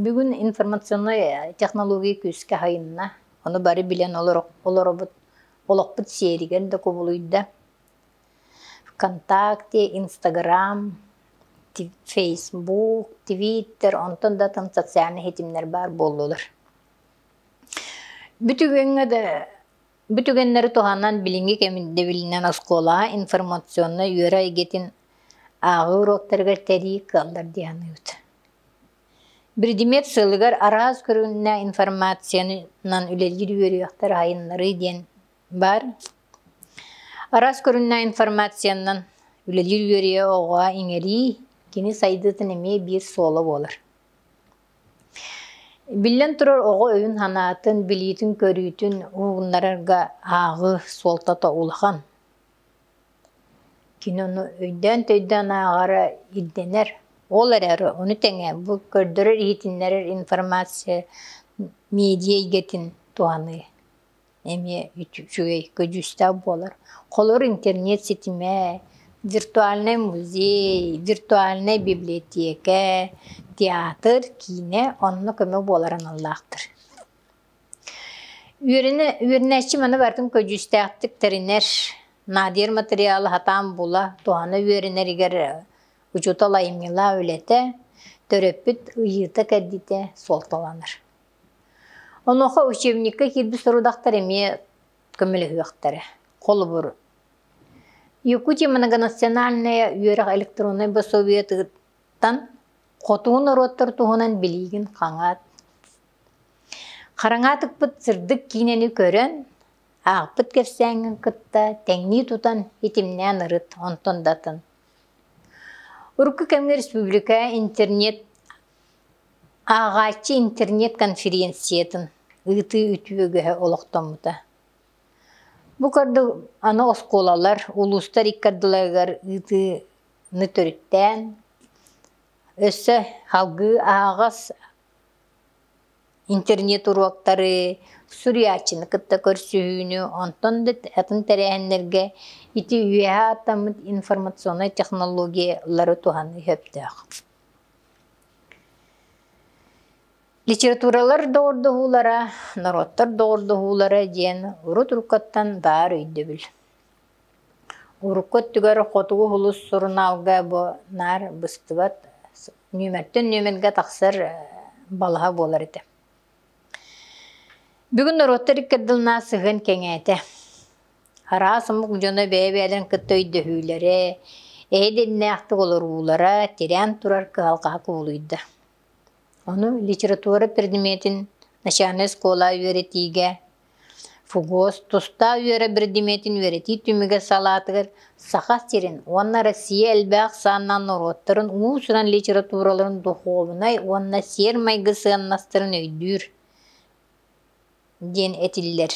Бүгүн информационнай технология күүскэ сайынна. Ону бары билэн олоробут, олохпут сиэригэр да кубулуйда. ВКонтакте, Инстаграм, Фейсбук, Твиттер, онтон да тан социальный ситимнэр баар буоллулар. Бүтүгүҥҥэ да бүтүгэннэри туһанан билиҥҥи кэмин дэбилинэн оскуола информационнай үөрэ эйгэтин ааҕыы уруоктарыгар тэрии кыаллар дии саныыбыт. Биридимиэт сыалыгар араас көрүҥнээх информациянан үлэлиир үөрүйэхтэр айаннарыы диэн баар. Араас көрүҥнээх информациянан үлэлиир үөрүйэ оҕоҕо иҥэрии, кини сайдыытын эмиэ биир суола буолар. Биллэн турар, оҕо өйүн-санаатын, билиитин-көрүүтүн ууннарарга ааҕыы суолтата улахан. Кинону өйдөөн-төйдөөн ааҕара ирдэнэр. Ол эрээри ону тэҥэ бу көрдөрөр, иһитиннэрэр информация медиа эйгэтин туһаныы эмиэ үчүгэй, көдьүүстээх буолар. Холобур, интернет ситимэ, виртуальнай музей, виртуальнай библиотека, театр, киинэ онно көмө буолар аналлаахтар. Үөрэнээччим аны барытын көдьүүстээхтик тэринэр, наадыйар матырыйаалы сатаан була, туһана үөрэнэригэр учуутал айымньылаах үлэтэ, төрөппүт ыйыыта-кэрдиитэ суолталанар. Онуоха учебникка киирбит сорудахтар эмиэ көмөлөһүөхтэрэ. Холобур, Якутия многонациональная үөрэх электроннай босуобуйа Хотугу норуоттар туһунан билиигин хаҥаат, хараҥаатыкпыт сырдык киинэни көрөн, аахпыт кэпсээҥҥин кытта тэҥнии тутан, итимнээн ырыт, онтон датын. Урукку кэмҥэ республика интернет ааҕааччы интернет-конференциятын ыытыы үтүөгэһэ олохтоммута. Бу курдук аны оскуолалар, улуустар икки ардыларыгар ыытыы Нөтүрүттээн, өссө салгыы аһаҕас интернет-уруоктары, суруйааччыны кытта көрсүһүүнү, онтон да атын тэрээһиннэргэ ити үөһэ ааттаммыт информационнай технологиялары туһаныы сөптөөх. Литературалар доҕордоһуулара, норуоттар доҕордоһуулара диэн урут уруккаттан баар өйдөбүл. Урукку өттүгэр хотугу улус сурунаалга бу наар быстыбат, нүөмэртэн нүөмэргэ тахсар балаһа буолар этэ. Бүгүн норуоттар икки ардыларынан сыһыан кэҥээтэ. Араас омук дьоно бэйэ-бэйэлэрин кытта өйдөһүүлэрэ, эһэ-дэннээхтик олоруулара тирээн турар кыһалҕаҕа кубулуйда. Ону литература предметин начальнай оскуола үөрэтиигэ ФУГОС тустаах үөрэ биридимиэтин үөрэтии түмүгэ салаатыгар Саха сирин уонна Россия элбэх санаанан норуоттарын уус-уран литератураларын духуобунай уонна сиэр-майгы сыаннастарын өйдүүр диэн этиллэр.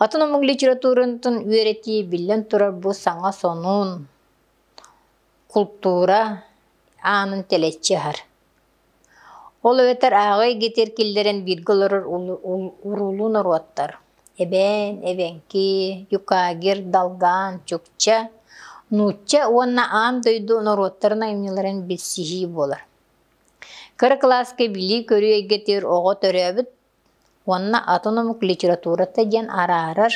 Атын омук литературатын үөрэтии биллэн турар бу саҥа сонун, култуура аанын тэлэччи аһар. Ол эбэтэр ааҕа игитэр киллэрэн бииргэ олорор уруулуу норуоттар эбээн, эбэҥки, юкагир, далгаан, чукча, нуучча уонна аан дойду норуоттарын айымньыларын билсиһии буолар. Кыра кылааска билии-көрүү эйгэтигэр оҕо төрөөбүт уонна атын омук литературата диэн араарар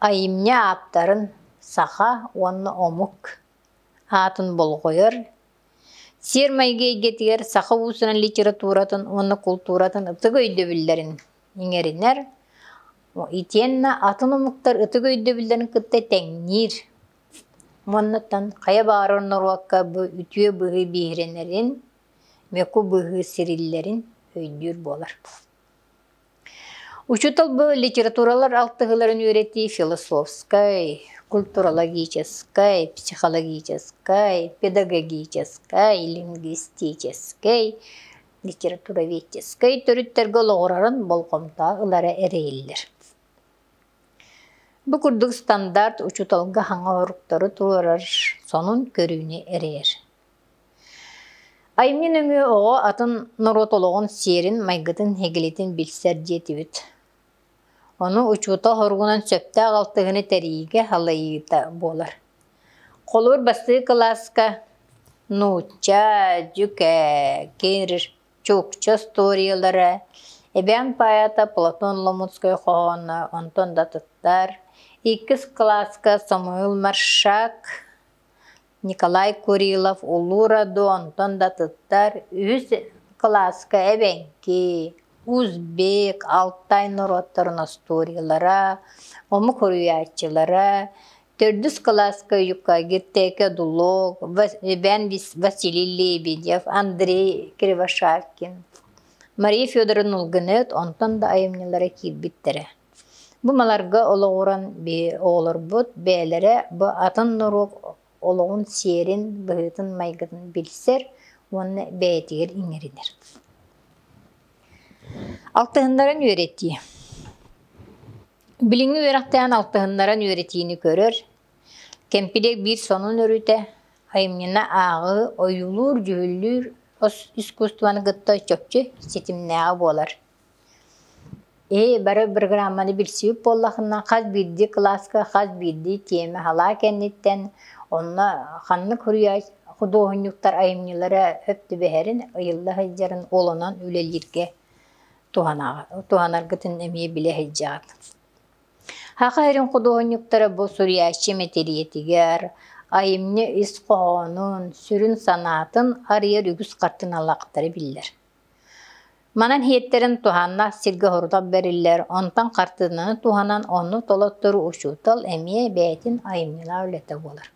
айымньы ааптарын саха уонна омук аатын болҕойор Сиэр-майгы эйгэтигэр саха уусунан литературатын уонна култууратын ытык өйдөбүллэрин иҥэринэр итиэннэ атын омуктар ытык өйдөбүллэрин кытта тэҥниир манныттан хайа баҕарар норуокка бу үтүө быһыы биһирэнэрин, меку быһыы сириллэрин өйдүүр буолар Учутал бу литературалар алтыһыларын үөрэтии философскай, культурологическай, психологическай, педагогическай, лингвистическэй, литературоведческай төрүттэргэ олоҕурарын болҕомто ылара эрэйиллэр. Бу курдук стандарт учуталга хаҥа оруктары туорар сонун көрүүнү эрэйэр. Айымньы нөҥүө оҕо атын норуот олоҕун сиэрин, майгытын, иһигилитин билсэр диэтибит. Ону учуутал хоругунан сөптөөх алтыһыыны тэрийиигэ халайыыта буолар. Холуур бастыы кылааска нуучча, дьүкэ, кирш, чукча историялара, эбээн поэта Платон Ломутскай хоһооно онтон да тыттар. Иккис кылааска Самуил Маршак Николай Курилов Улуу Роду онтон да туттар үһүс кылааска эбэҥки, узбек, алтай норуоттарын остуоруйалара, омук уруйааччылара, төрдүс кылааска Уйукка Гиртээкэ Дулог, Иван Василий Лебедев, Андрей Кривошапкин, Мария Федоровна Ылгыныт онтон да айымньылара киирбиттэрэ Бу маларга олоҕуран оҕолорбут бэйэлэрэ бу атын норуот олоҕун сиэрин, быһыытын-майгытын билсэр уонна бэйэтигэр иҥэринэр. Алтыһыннарын үөрэтии. Билиҥҥи үөрэхтээн алтыһыннаран үөрэтиини көрөр, кэмпилиэк биир сонун өрүтэ, айымньыны ааҕыы, ойуулуур, дьүһүллүүр ос искусствоны кытта чопчу ситимнээҕэ буолар. Ээ бары бырагырааманы билсибит буоллахына хас биирдии кылааска хас биирдии тиэмэ салаа кэнниттэн онно ханнык суруйач худуоһунньуктар айымньылара өп түбэһэрин ыйылла сылдьарын уолунан үлэлииргэ туһанаргытын эмиэ билэ сылдьаҕыт. Саха сирин худуоһунньуктара бу суруйааччы мэтириэтигэр айымньы ис хоһоонун, сүрүн санаатын арыйар үгүс хартыыналаахтара биллэр. Манан иһиттэрин туһанна сиргэ-сорута бэриллэр, онтон хартыынаны туһанан онно толоттор учуутал эмиэ бэйэтин айымньылаах үлэтэ буолар.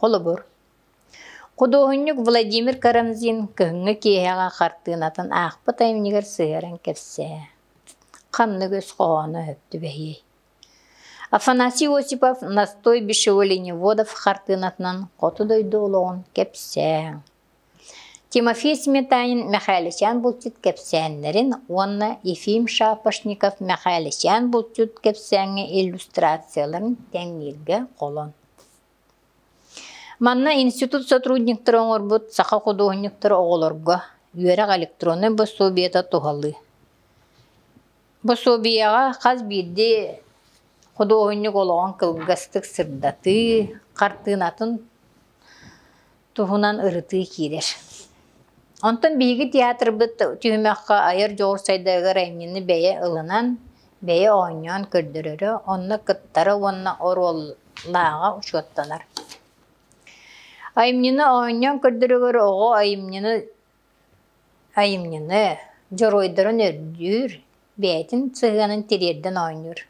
Холобур, худуоһунньук Владимир Карамзин кыһыҥҥы киэһэҕэ хартыынатын аахпыт айымньыгар сыһыаран кэпсэһэ. Ханнык өс хоһооно өһүп түбэһиэй? Афанасий Осипов «Настой бесшего лениводов» хартыынатынан хоту дойду олоҕун кэпсээҥ. Тимофей Сметанин Мэхээлисээн булчут кэпсээннэрин уонна Ефим Шапошников Мэхээлисээн булчут кэпсээҥҥэ иллюстрацияларын тэҥнииргэ холон Манна институт сотрудниктара оҥорбут саха худуоһунньуктара оҕолорго үөрэх электроннай босуобуйата туһалыы. Босуобуйаҕа хас биирдии худуоһунньук олоҕун кылгастык сырдатыы, хартыынатын туһунан ырытыы киирэр. Онтон биһиги театрбыт түһүмэххэ айар дьоҕурсайдагыгар айымньыны бэйэ ылынан, бэйэ оонньоон көрдөрөрө, онно кыттара уонна оруоллааҕа учуоттанар. Айымньыны оонньоон көрдөрөгөр оҕо айымньыны айымньыны, дьоруойдарын өрдүүр, бэйэтин сыһыанын тириэрдэн оонньуур.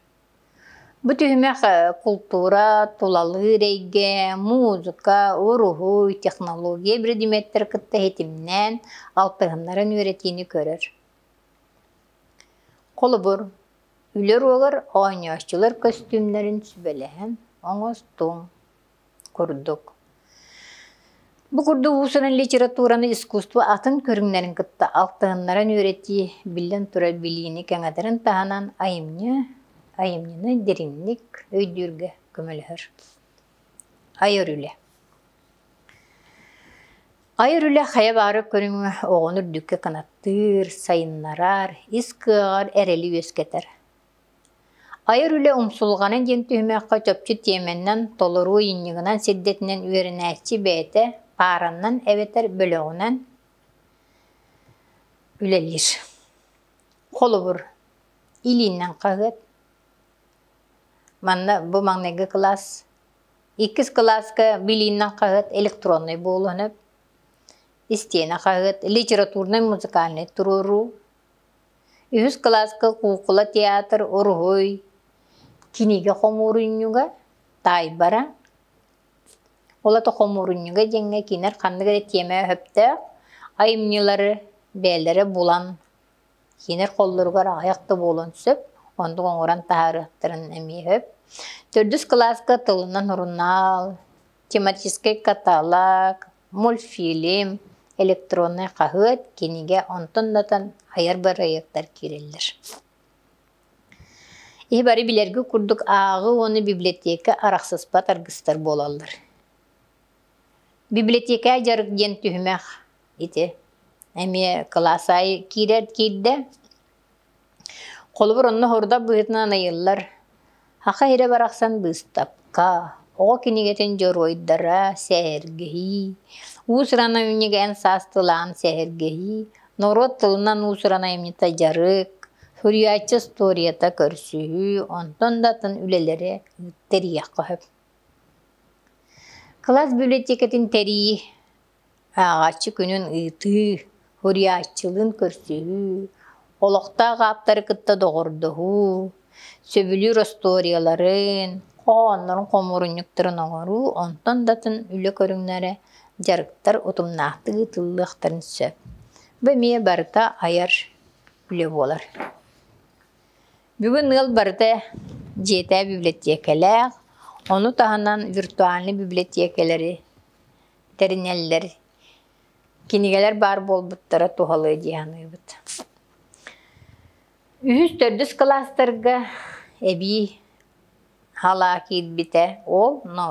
Бу түһүмэх култуура, тулалыыр эйгэ, музыка, уруһуй, технология биридимиэттэрин кытта ситимнээн алтыһыннаран үөрэтиини көрөр. Холобур, үлэ уруогар оонньооччулар көстүүмнэрин сүбэлэһэн оҥостуҥ. курдук. Бу курдук уусунан литератураны искусство атын көрүҥнэрин кытта алтыһыннаран үөрэтии, биллэн турар, билиини кэҥэтэрин таһынан айымньы, айымньыны дириҥник өйдүүргэ көмөлөһөр. Айар үлэ. Айар үлэ хайа баары көрүҥү оҕону үрдүккэ кынаттыыр, сайыннарар, ис кыаҕар эрэли үөскэтэр. Айар үлэ умсулҕана диэн түһүмэххэ чопчу тиэмэнэн, толоруу иннигинэн сирдэтинэн үөрэнээччи бэйэтэ паараннан эбэтэр бөлөҕүнэн үлэлиир. Холобур, илииннэн хаһыат, манна бу маҥнайгы кылаас, иккис кылааска билииннэн хаһыат электроннай буолуон сөп, истиэнэ хаһыат, литературнай-музыкальнай туруоруу, Үһүс кылааска куукула театр уруһуй, кинигэ хомуурунньуга, таайбара. Ол ата хомуурунньуга диэҥҥэ кинилэр ханнык эрэ тиэмэ өһөхтөөх айымньылары бэйэлэрэ булан, кинилэр холлоругар аҕыйах да буолуон сөп, оннук оҥорон таһаарыахтарын эмиэ өһөп. Төрдүс кылааска тылынан сурунаал, тематическай каталог, мультфильм, электроннай хаһыат, кинигэ онтон-натан айар-бар айыктар киирэллэр. Ии бары билэрги курдук ааҕы уону библиотека арахсыспат аргыстар буолаллар. Библиотека жарык диэн түһүмэх ити эмиэ кылаас айы киирэр киирдэ Холобур, онно соҕурах быһыытынан айыллар саха иһирэ барахсан быыстапка, оҕо кинигэтин дьоруойдара, сэһэргэһии, уус-уран айымньыга эн саас тылаан сэһэргэһии, норуот тылынан уус-уран айымньыта дьарык, суруйааччы историята көрсүһүү, онтон да атын үлэлэри тэрийиэххэ сөп. Кылаас библиотекатын тэрии ааҕааччы күнүн ыытыы, уруйааччылыын көрсүһүү, олохтоох ааптары кытта доҕордоһуу, сөбүлүүр остуоруйаларын, хоһооннорун хомуурунньуктарын оҥоруу, онтон да атын үлэ көрүҥнэрэ, дьарыктар утумнаахтык ыытыллыахтарын сөп. Бу эмиэ барыта айар үлэ буолар. Бүгүн ыал барыта дьиэтэ библиотекалаах, ону таһынан виртуальнай библиотекалары тэринэллэр. Кинигэлэр баар буолбуттара туһалыа дии саныыбыт. Үһүс төрдүс кылаастарга эбии халаа киирбитэ ол, но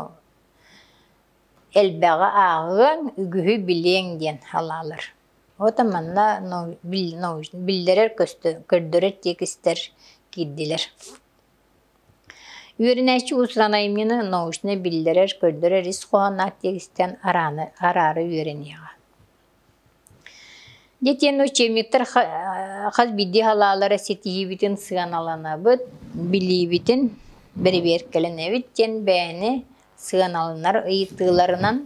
элбэҕи ааҕыаҥ, үгүһү билиэҥ диэн халаалар. Ото манна научнай биллэрэр көстө көрдөрөр тиэкистэр киирдилэр Үөрэнээччи учуонайымньыны научно-биллэрэр-көрдөрөр ис хоһооноох тиэкистэн араары үөрэниэҕэ. Дитин учебниктар хас биирдии салаалара ситиһиибитин сыаналанабыт, билиибитин бэрэбиэркэлэнэбит диэн бэйэни сыаналанар ыйытыыларынан,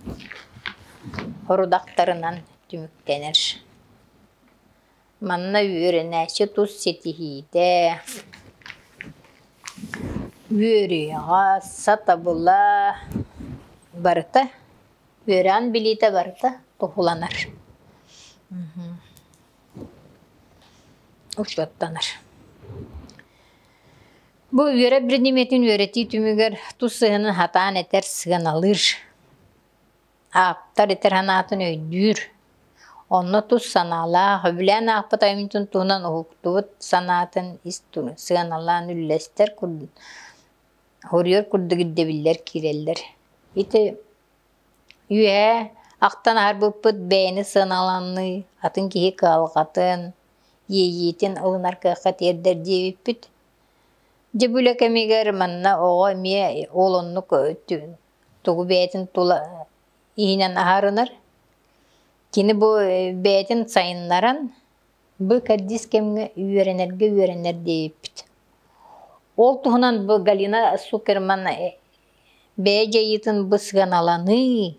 орудахтарынан түмүктэнэр. Манна үөрэнээччи тус ситиһиитэ, үөрүйэҕэ, сатабыла барыта, үөрэҕин билиитэ барыта туһуланар. учуоттанар. Бу үөрэ предметин үөрэтии түмүгэр тус сыһыаны хатаан этэр сыаналыыр. Ааптар итэр санаатын өйдүүр. Онно тус санаалаах, үбүлээн аахпыт айымньытын туһунан уһуктубут санаатын ис ту- сыаналаан үллэстэр курдук, уһуруйар курдук ирдэбиллэр киирэллэр. Ити үөһээ ахтан аһарбыппыт бэйэни сыаналаныы, атын киһи кыһалҕатын, иэйиитин ылынар кыахха тиэрдэр диэбиппит. Дьэ бу үлэ кэмигэр манна оҕо эмиэ ол оннук тугу бэйэтин тула иһинэн аһарынар. Кини бу бэйэтин сайыннаран бу кэрдиис кэмҥэ үөрэнэргэ үөрэнэр диэбиппит. Ол туһунан бу Галина Суперман бэйэ дьайыытын бу сыаналаныы,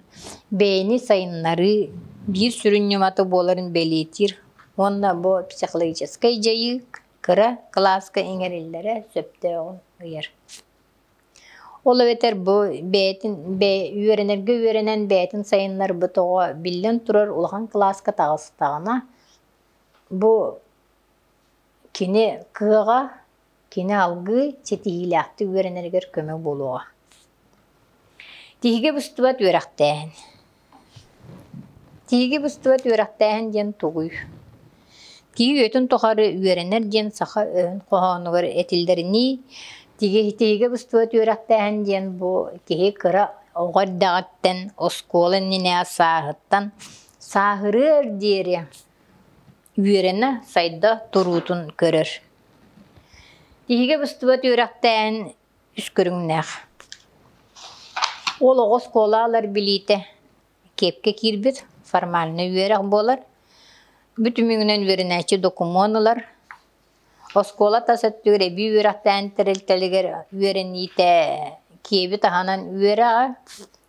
бэйэни сайыннарыы биир сүрүн ньымата буоларын бэлиэтиир уонна бу психологическай дьайыы кыра кылааска иҥэриллэрэ сөптөөҕүн ыйар. Ол эбэтэр бу бэйэтин бэйэ үөрэнэргэ үөрэнэн бэйэтин сайыннарбыт оҕо биллэн турар улахан кылааска таҕыстаҕына бу кини кыаҕа, кини алгыы ситиһиилээхтик үөрэнэригэр көмө буолуоҕа. Тиһигэ быстыбат үөрэхтээһин Тииги быстыбат үөрэхтээһин диэн тугуй? Тиги үөтүн тухары үөрэнэр диэн саха өһүн хоһоонугар этиллэринии, тиги тиигэ быстыбат үөрэхтээһин диэн бу киһи кыра оҕо эрдэҕиттэн оскуола иннинэ сааһыттан сааһырыар диэри үөрэнэ, сайда туруутун көрөр. Тиигэ быстыбат үөрэхтээһин үс көрүҥнээх. Ол оҕо оскуола ылар билиитэ киэпкэ киирбит, формальнай үөрэх буолар. Бу түмүгүнэн үөрэнээччи докумуон ылар. Оскуола тас өттүгэр эбии үөрэхтээн тэрилтэлигэр үөрэниитэ киэби таһынан үөрэ аҕа,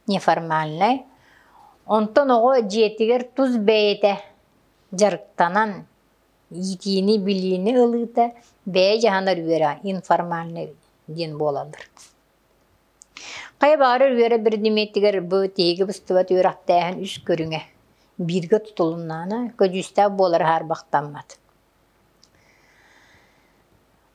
неформальнай. Онтон оҕо дьиэтигэр тус бэйэтэ дьарыктанан иитиини-билиини ылыыта бэйэ дьаһанар үөрэ информальнай диэн буолаллар. Хайа баҕарар үөрэ биридимиэттигэр бу тиһиги быстыбат үөрэхтээһин үс көрүҥэ бииргэ тутулуннаана көдьүүстээх буолара хаарбахтаммат.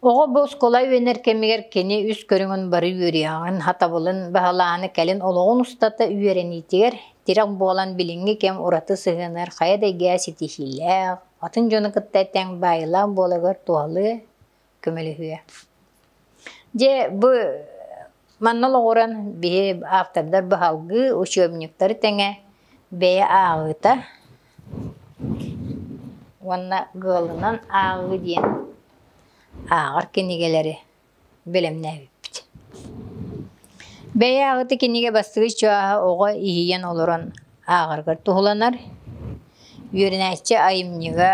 Оҕо бу оскуола үөнэр кэмигэр кини үс көрүҥүн бары үөрүйэҕин, хатабылын баһылааһыны кэлин олоҕун устата үөрэниитигэр тирэх буолан билиҥҥи кэм ураты сыһыанар хайа да эйгэҕэ ситиһиилээх, атын дьону кытта этэҥ баайыылаах буолагар туһалыы көмөлөһүө. Дьэ бу манна олоҕуран биһи автордар баһалгы, учебниктары тэҥэ бэйэ ааҕыыта уонна Ыалынан ааҕыы диэн ааҕар кинигэлэри бэлэмнээбиппит. Бэйэ аҕыты кинигэ бастыгы чугаһа оҕо иһийэн олорон ааҕаргар туһуланар. Үөрэнээччи айымньыга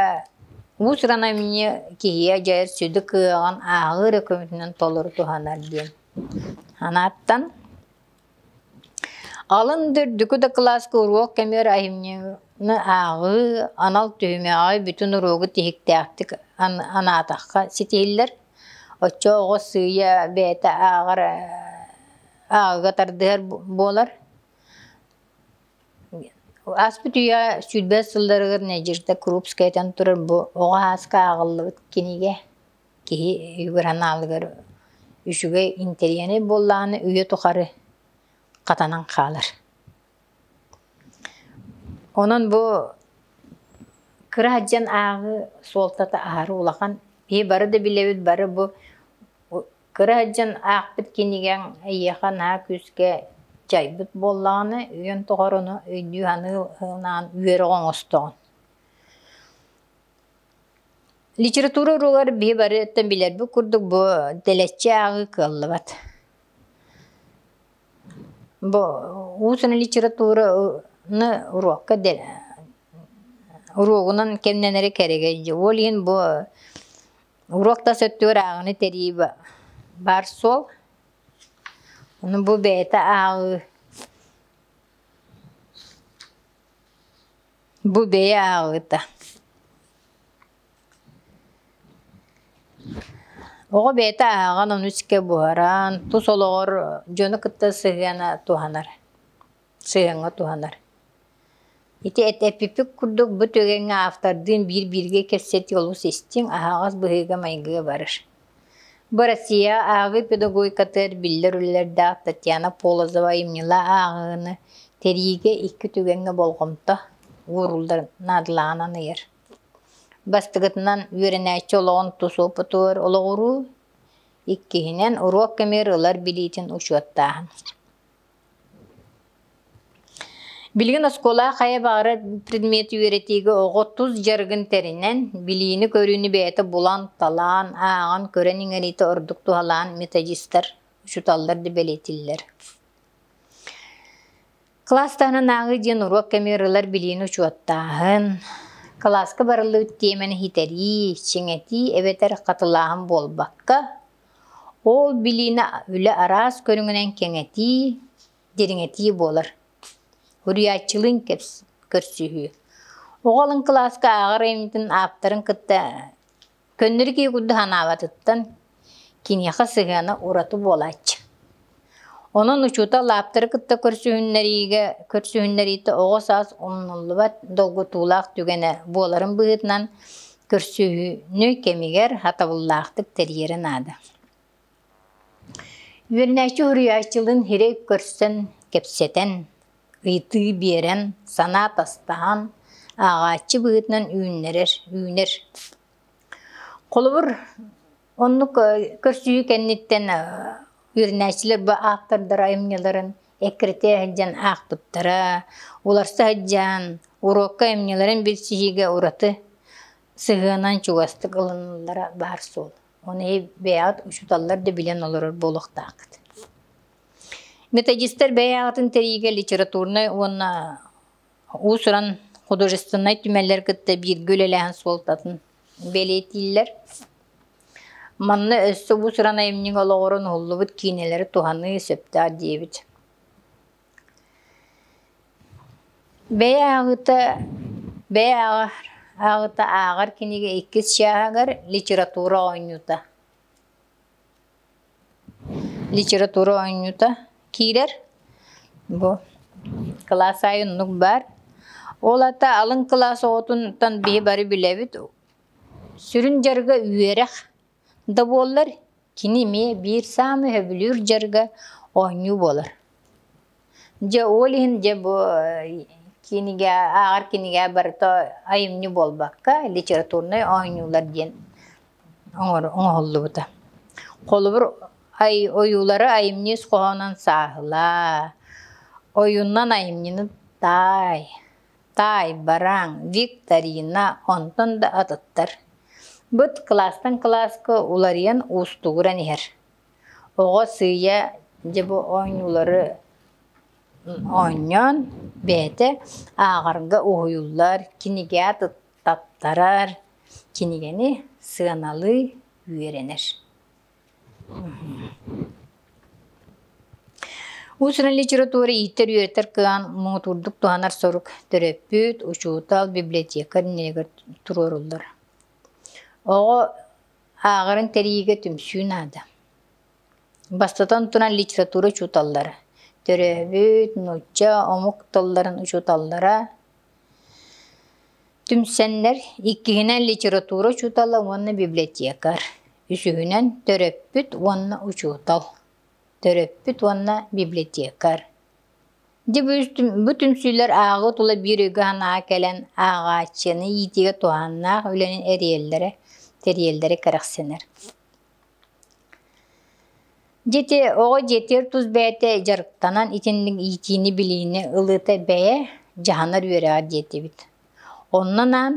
уус-уран айымньы киһи дьайар сүдү кыаҕын ааҕыы эрэ көмөтүнэн толору туһанар диэн санааттан Алын үрдүкү дакылааска уруок көмүөр айымньыны ааҕыы анал түһүмэҕи бүтүн уруогу тиһиктээхтик анаатахха ситиһиллэр. Оччо оҕо сыыйа бэйэтэ ааҕар ааҕыыга тардыһар буолар. Ааспыт үйэ сүүрбэ сылларыгар Надежда Крупскайтан турар бу оҕо ааска ааҕыллыбыт кинигэ. киһи быранаалыгар үчүгэй интэриэһинэй буоллаҕына үйэ тухары хатанан хаалар. Онон бу кыра сылдьан ааҕыы суолтата аһары улахан. Киһи бары да билэбит бары бу кыра сылдьан аахпыт кинигэҥ эйиэхэ наһаа күүскэ дьайбыт буоллаҕына үйэн тухары ону өйдүү саныы үөрэҕи оҥостоҕун. Литература уруогар биһи барытыттан билэрбит курдук бу тэлэччи ааҕыы кыаллыбат. Бу уусуна литератураны уруокка уруогунан кэмнэнэри кэрэгэй дии. Ол иһин бу уруок тас өттүгэр ааҕыыны тэрии баар суол. Ону бу бэйэтэ ааҕыы Бу бэйэ ааҕыыта. Оҕо бэйэтэ ааҕан ону искэ буһаран, тус олоҕор дьону кытта сыһыана туһанар, сыһыаҥҥа туһанар. Ити эппиппит курдук бу түгэҥҥэ автордыын биир-бииргэ кэпсэтии олус истиҥ, аһаҕас быһыыга-майгыга барар. Бу Россия ааҕыы педагогикатыгар биллэр үлэлэрдээх Татьяна Полозова айымньылаах ааҕыыны тэриигэ икки түгэҥҥэ болҕомто уурулларын наадалааҕынан ыйар. Бастакытынан, үөрэнээччи олоҕун тус опытыгар олоҕуруу. Иккиһинэн, уруок кэмигэр ылар билиитин учуоттааһын. Билигин оскуола хайа баҕара предмет үөрэтиигэ оҕо тус дьарыгын тэринэн, билиини-көрүүнү бэйэтэ булан-талаан, ааҕан-көрөн иҥэриитэ ордук туһалаан методистар учууталлар да бэлиэтииллэр. Кылаастарынан ааҕыы диэн уруок кэми ырылар билиини учуоттааһын, кылааска барыллыбыт тиэмэни иһитэрии, чиҥэтии эбэтэр хатылааһын буолбакка, Ол билиинэ үлэ араас көрүҥүнэн кэҥэтии, дириҥэтии буолар. Уруйааччылыын көрсүһүү. Оҕо алын кылааска ааҕар айымньытын ааптарын кытта көннөрү киһи курдук санаабатыттан киниэхэ сыһыана ураты буолааччы Онон учуутал ааптары кытта көрсүһүннэриигэ көрсүһүннэриитэ оҕо саас умнуллубат долгутуулаах түгэнэ буоларын быһыытынан көрсүһүүнү кэмигэр хатабыллаахтык тэрийэрэ наада. Үөрэнээччи уһуйааччылыын сирэй көрсөн, кэпсэтэн, ыйытыы биэрэн, санаа атастаһан, ааҕааччы быһыытынан үүннэрэр үүнэр. Холобур, Оннук көрсүһүү кэнниттэн үөрэнээччилэр бу ааптардар айымньыларын эккирэтэ сылдьан аахпыттара, уларса сылдьан уруокка айымньыларын билсиһиигэ ураты сыһыанан чугастык ылыныллара баар суол. Ону бэйэҕит учууталлар да билэн олорор буолуохтааххыт. Методистар бэйэҕитин тэрийиигэ литературнай уонна Уус-уран художественнай түмэллэр кытта бииргэ үлэлээһин суолтатын бэлиэтииллэр. Манна өссө уус-уран айымньыга олоҕуран уһуллубут киинэлэри туһаныы сөптөөх диэбит. Бэйэ ааҕыыта бэйэ ааҕыыта ааҕар кинигэ иккис чааһыгар литература оонньуута Литература оонньуута киирэр. Бу кылаас аайы оннук баар. Ол аата алын кылаас оҕотунтан биһи бары билэбит. Сүрүн дьарыга үөрэх да буоллар, кини эмиэ биир саамай сөбүлүүр дьарыга оонньуу буолар. Дьэ ол иһин дьэ бу кинигэ ааҕар кинигэ барыта айымньы буолбакка литературнай оонньуулар диэн оҥоһуллубута. Холобур ойуулары айымньы ис хоһоонун сааһылаа, ойуннан айымньыны таай, таайбараҥ, викторина, онтон да атыттар. Быт кластан класска уларыйан уустугуран иһэр. Оҕо сыыйа дьэ бу оонньуулары оонньоон бэйэтэ ааҕарга уһуйуллар, кинигэ аттаттарар, кинигэни сыаналыы үөрэнэр. Уус-уран литература иитэр-үөрэтэр кыаҕын муҥутуурдук туһанар сорук төрөппүт, учуутал, библиотекарь иннигэр туруоруллар. Оҕо Ааҕарын тэрийиигэ түмсүү наада. Бастатан туран, литература учууталлара, төрөөбүт, нуучча, омук тылларын учууталлара түмсэннэр, иккиһинэн литература учуутала уонна библиотекарь, үсүһүнэн төрөппүт уонна учуутал, төрөппүт уонна библиотекарь. Дьэ бу түмсүүлэр ааҕыы тула биир өйгө санаа кэлэн ааҕааччыны иитиигэ туһааннаах үлэни эриэллэрэ тэриэллэрэ кэрэхсэнэр. Дьэ оҕо дьиэтигэр тус бэйэтэ дьарыктанан итинник иитиини билиини ылыыта бэйэ дьаһанар үөрэҕэр диэтибит. Онно анаан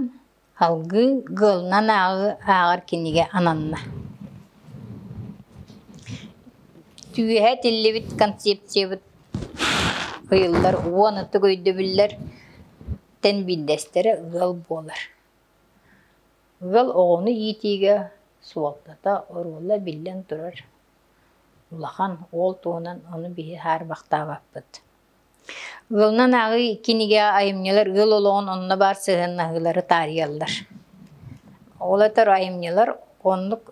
Алгыы Гыалынан ааҕыы ааҕар кинигэ ананна Түөһэ этиллибит концепциябыт ыйыллар уон ытык өйдөбүллэр тэн биирдэстэрэ ыал буолар. Ыал оҕону иитиигэ суолтата, оруола биллэн турар, улахан, уол туһунан ону биһи хаарбахтаабаппыт Ыалынан ааҕыы кинигэҕэ айымньылар ыал олоҕун онно баар сыһыаннаһыылары таарыйаллар. Ол этэр айымньылар оннук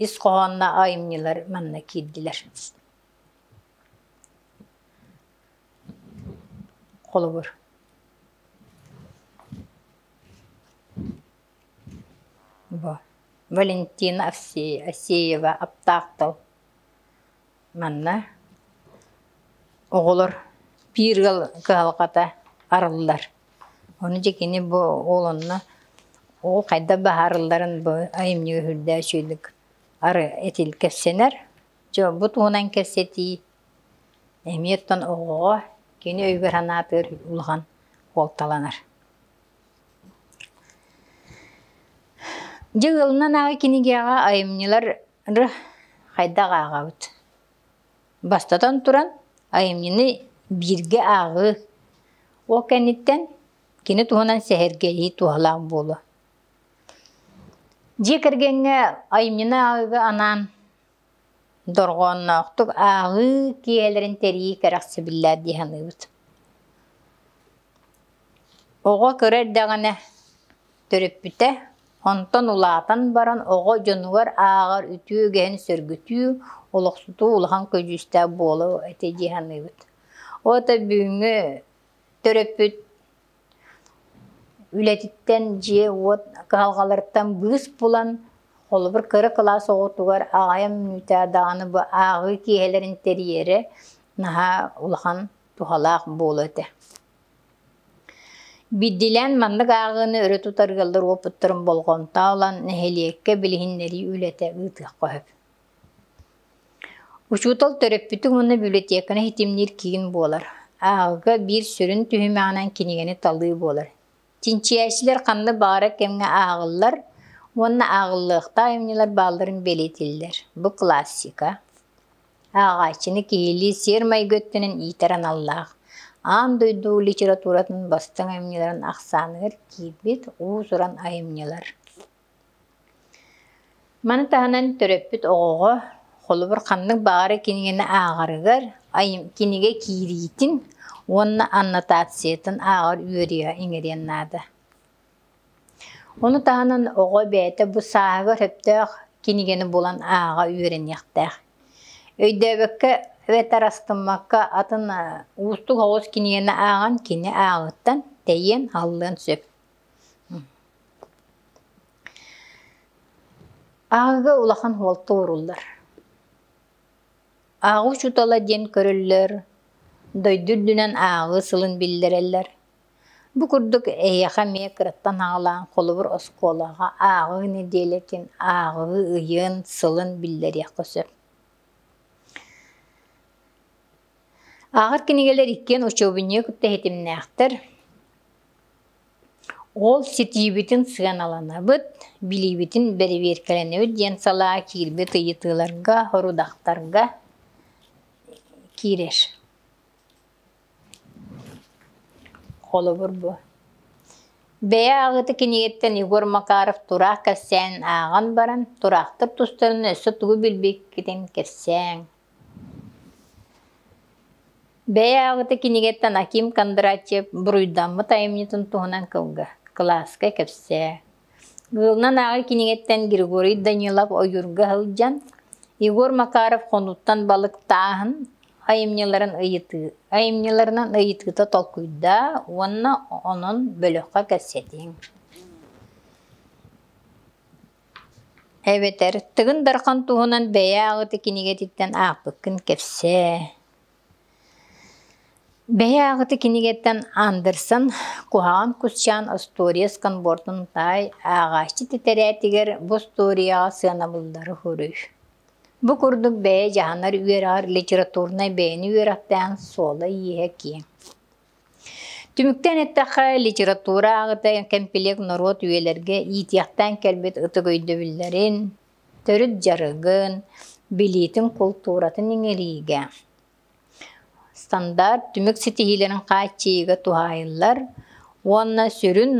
ис хоһоонно айымньылар манна киирдилэр. Холобур бу Валентина Овсеева Аптаах тыл Манна оҕолор биир ыал кыһалҕата арыллар. Ону дьикини бу ол онно ол хайдах баһаарылларын бу айымньыга үрдээх үчүгэйдик ары этил кэпсэнэр. Дьолбут уунан кэпсэтии эмиэ оттон оҕоҕо кини өйүгэр санаатыгар улахан куолталанар. Дьэ ыалынан ааҕы кинигэҕэ айымньылар Ры, хайдах ааҕабыт? Бастатан туран, айымньыны бииргэ ааҕыы ол кэнниттэн кини туһунан сэһэргэһии туһалаах буолуо. Дьиэ кэргэҥҥэ айымньыны ааҕыыга анаан дорҕоонноохтук ааҕыы киһилэрин тэрийии кэрэхсэбиллээх дии саныыбыт. Оҕо кыра эрдэҕинэ Төрөппүтэ, онтон улаатан баран оҕо дьонугар ааҕар үтүө үгэһин сөргүтүү, олохсутуу улахан көдьүүстээх буолуо этэ дии саныыбыт. Ол это бүгүҥҥү төрөппүт үлэтиттэн дьиэ-уот кыһалҕаларыттан быыс булан, холобур, кыра кылаас оҕотугар аҕайан мүнүүтэ даҕаны бу ааҕыы киэһэлэрин тэрийэрэ наһаа улахан туһалаах буолуо этэ. Бирдилээн маннык ааҕыыны өрө тутар ыаллар уопуттарын болҕомто ылан, нэһилиэккэ билиһиннэрии үлэтэ ыытыахха сөп. Учуутал төрөппүтүн уонна библиотеканы ситимниир киин буолар. Ааҕыыга биир сүрүн түһүмэҕинэн кинигэни талыы буолар. Чинчийээччилэр ханна баара кэмҥэ ааҕыллар уонна ааҕыллыахтаах айымньылар баалларын бэлиэтииллэр. Бу классика. Ааҕааччыны киһилии сиэр-майгы өттүнэн иитэр аналлаах. Аан дойду литературатын бастыҥ айымньыларын ахсааныгар киирбит уус-уран айымньылар. Маны таһынан төрөппүт оҕоҕо холобур ханнык баҕарар кинигэни ааҕарыгар кинигэ киириитин уонна аннотациятын ааҕар үөрүйэҕи иҥэриэн наада. Ону таһынан оҕо бэйэтэ бу сааһыгар сөптөөх кинигэни булан ааҕа үөрэниэхтээх. Өйдөөбөккө эбэтэр астыммакка атын уустук оҕус кинигэни ааҕан кини ааҕыыттан тэйиэн, аһыллыан сөп. Ааҕыга улахан уолта ууруллар. Ааҕыы учуутала диэн көрөллөр, дойду үрдүнэн ааҕыы сылын биллэрэллэр. Бу курдук эһиэхэ эмиэ кыраттан аҕалаан холобур оскуолаҕа ааҕыы нэдиэлэтин, ааҕыы ыйын, сылын биллэриэххэ сөп. Ааҕар кинигэлэр иккиэн учуобунньуга кытта иһитимнээхтэр. Ол ситиибитин сыаналанабыт, билиибитин бэрэбиэркэлэнэбит диэн салаа киирбит ыйытыыларга, сорудахтарга киирэр. Холобур бу. Бэйэ аҕыты кинигэттэн Егор Макаров тураах кэпсээн ааҕан баран, тураахтар тустарынан өссө тугу билбиккитин кэпсээҥ. Бэйэ ааҕыта кинигэттэн Аким Кондратьев буруйдаммыт айымньытын туһунан кылга, кылааска кэпсээ. Ыалынан ааҕыы кинигэттэн Григорий Данилов ойуурга сылдьан, Егор Макаров хонууттан балыктааһын айымньыларын ыйытыы, айымньыларынан ыйытыыта толкуйдаа уонна онон бөлөххө кэпсэтиҥ. Эбэтэр Тыгын Дархан туһунан бэйэ аҕыты кинигэтиттэн аахпыккын кэпсээ Бэйэ аҕыты кинигэттэн Андерсон куһаҕан кусчаан остуоруйа сканбордун таай ааҕааччы титэрээтигэр бу остуоруйаҕа сыанабыллары хоруй. Бу курдук бэйэ дьаһанар үөрэҕэр литературнай бэйэни үөрэхтээх суола-ииһэ киэҥ Түмүктээн эттэххэ, литература ааҕыта кэмпилиэк норуот үйэлэргэ иитиэхтээн кэлбит ытык өйдөбүллэрин, төрүт дьарыгын, билиитин, култууратын иҥэриигэ стандарт түмүк ситиһиилэрин хааччыйыыга туһаайыллар уонна сүрүн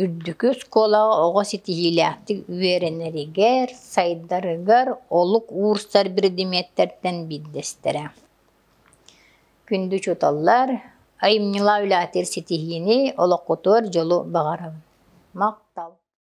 үрдүкү оскуолаҕа оҕо ситиһиилээхтик үөрэнэригэр, сайдарыгар олук уурсар биридимиэттэртэн биирдэстэрэ. Күндү учууталлар, айымньылаах үлэһитир ситиһиини, олоххутугар дьолу баҕарабын. Махтал!